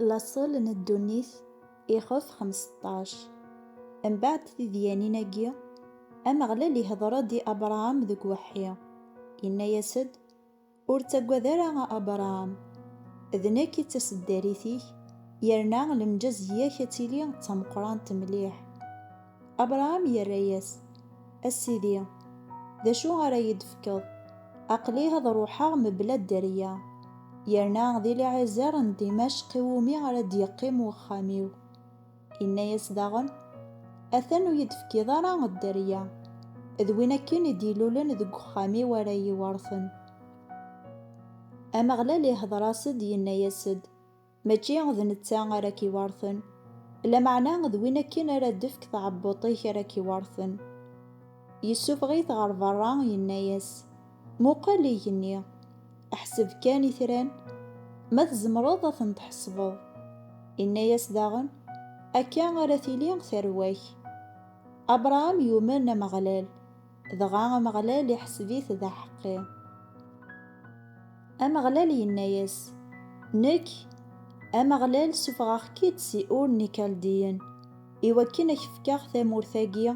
Laṣel n ddunit, ixef xemseṭṭac. Mbeɛd tidyanin-agi, Ameɣlal ihdeṛ-ed i Abṛaham deg weḥḥi, inna-yas-ed, Ur ttagad ara a Abṛaham! D nekk i d taseddarit-ik, yerna lemǧazeyya-k ad tili d tameqṛant mliḥ. Abṛaham irra-yas, A Sidi, d acu ara yi-d-tefkeḍ? Aql-i ad ṛuḥeɣ mebla dderya, yerna d Iliɛizer n Dimacq i wumi ara d-yeqqim wexxam-iw. Inna-yas daɣen, Atan ur yi-d-tefkiḍ ara dderya, d win akken i d-ilulen deg wexxam-iw ara yi-iweṛten. Ameɣlal ihdeṛ-as-d, yenna-yas-d. Mačči d netta ara k-iweṛten, lameɛna d win akken ara d-tefk tɛebbuṭ-ik ara k-iweṛten. Yessufeɣ-it ɣer beṛṛa, yenna-yas, Muqel igenni, ḥseb kan itran, ma tzemreḍ ad ten-tḥesbeḍ. Inna-yas daɣen, Akka ara tili tarwa-k. Abṛaham yumen Ameɣlal. Dɣa Ameɣlal iḥseb-it d aḥeqqi. Ameɣlal yenna-yas, Nekk, Ameɣlal sufɣeɣ-k-id si Ur n Ikaldiyen, i wakken a k-fkeɣ tamurt-agi,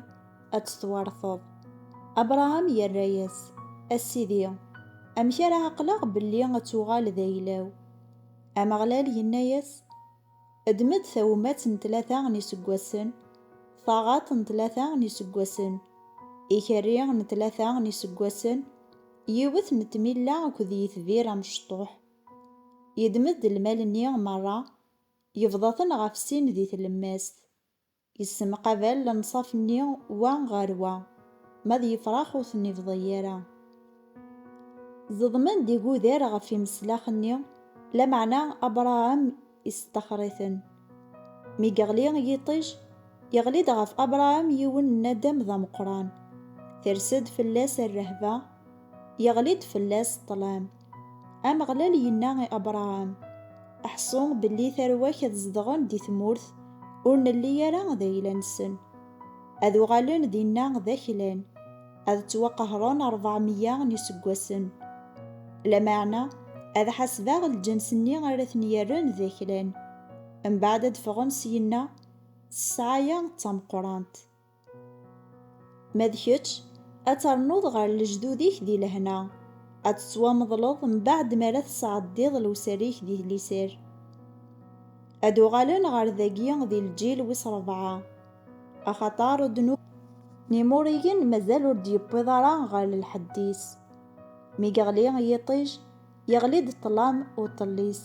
ad tt-twerteḍ. Abṛaham yerra-yas, A Sidi, amek ara ɛeqleɣ belli ad tuɣal d ayla-w? Ameɣlal yenna-yas, Ddem-d tawemmat n tlata n yiseggasen, taɣaḍt n tlata n yiseggasen, ikerri n tlata n yiseggasen, yiwet n tmilla akked yitbir amecṭuḥ. Yeddem-d lmal-nni merra, yebḍa-ten ɣef sin di tlemmast. Yessemqabal lenṣaf-nni wa ɣer wa, ma d yefrax ur ten-ibḍi ara. Zeḍmen-d igudar ɣef imeslax-nni, lameɛna Abṛaham isṭaxer-iten. Mi yeɣli yiṭij, yeɣli-d ɣef Abṛaham yiwen n nadam d ameqqran, ters-d fell-as rrehba, yeɣli-d fell-as ṭṭlam. Ameɣlal yenna i Abṛaham, Ḥṣu belli tarwa-k ad zedɣen di tmurt ur nelli ara d ayla-nsen. Ad uɣalen dinna d aklan, ad ttwaqehren ṛebɛemya n yiseggasen. Lameɛna ad ḥasbeɣ lǧens-nni ara ten-yerren d aklan, mbeɛd ad d-ffɣen syenna s ssɛaya d tameqqrant. Ma d kečč, ad ternuḍ ɣer lejdud-ik di lehna, ad tettwameḍleḍ mbaɛd mi ara tesɛeddiḍ lewsar-ik di liser. Ad uɣalen ɣer dagi di lǧil wis rebɛa, axaṭer ddnub n Imuriyen mazal ur d-yewwiḍ ara ɣer lḥedd-is. Mi yeɣli yiṭij, Yeɣli-d ṭṭlam u ṭṭellis.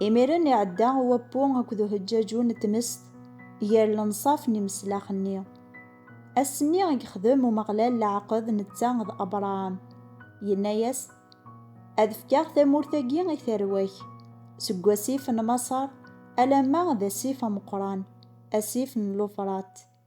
Imiren iɛedda wappu akked uhejjaju n tmest gar lenṣaf n imeslax-nni. Ass-nni i yexdem Umeɣlal leɛqed netta d Abṛaham, yenna-yas, Ad fkeɣ tamurt-agi i tarwa-k, seg wasif n Maṣer alamma d asif ameqqran, asif n Lufrat.